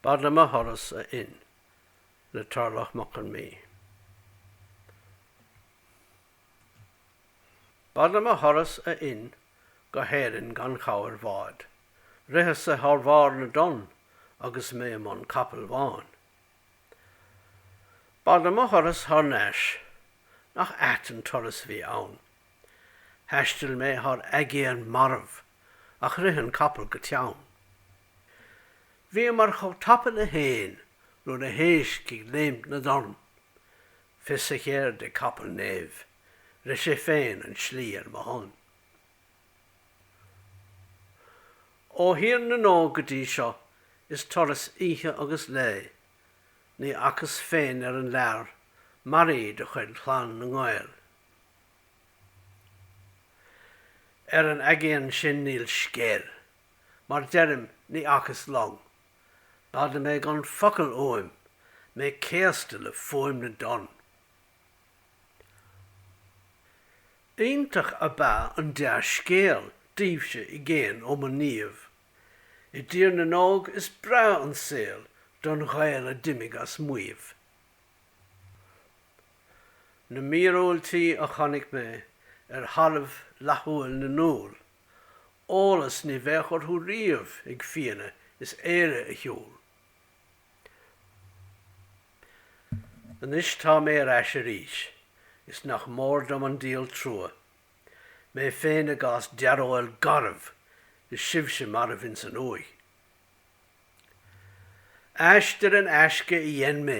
B'ait liom mo thuras, a Fhinn, le Torlach Mac Con Midhe. B'ait liom mo thuras, a Fhinn, go hÉirinn gan chabhair bháid. Ritheas-sa thar bharr na dtonn agus mé i mbun capaill bháin. B'ait liom mo thuras thar n-ais, nach ait an turas bhí ann. Thaistil mé thar aigéan marbh ach rith an capall go teann. Bhíomar chomh tapa le héin nó na héisc ag léimt na dtonn. Fios a cheirde ag capall Niamh, rith sé féin an tslí ar mo shon. Ó Thír na nÓg go dtí seo is turas oíche agus lae. Ní fhacas féin ar an lear maraí de chuid Chlann na nGael. Ar an aigéan sin níl scéal mar deirim ní fhacas long. B'fhada mé gan focal uaim, mé céasta le fuaim na dtonn. Iontach ab ea an dea-scéal daoibhse i gcéin ó mo Niamh. I dTír na nÓg is breá an saol don Ghael a d'imigh as maíomh. Na míorúiltí a chonaic mé ar thalamh fhlaithiúil na ndúl. eolas ní bheadh orthu riamh ag Fianna is Éire a shiúl. Anois tá mé ar ais arís, is nach mór dom an díol trua, mé féin i gcás dearóil garbh is sibhse marbh ins an uaigh. Aistear in aisce a dhein mé,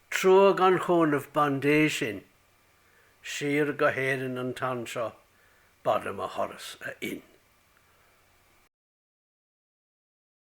trua gan chúnamh bandé sinn. Siar go hÉirinn an t-am seo b'ait liom mo thuras, a Fhinn.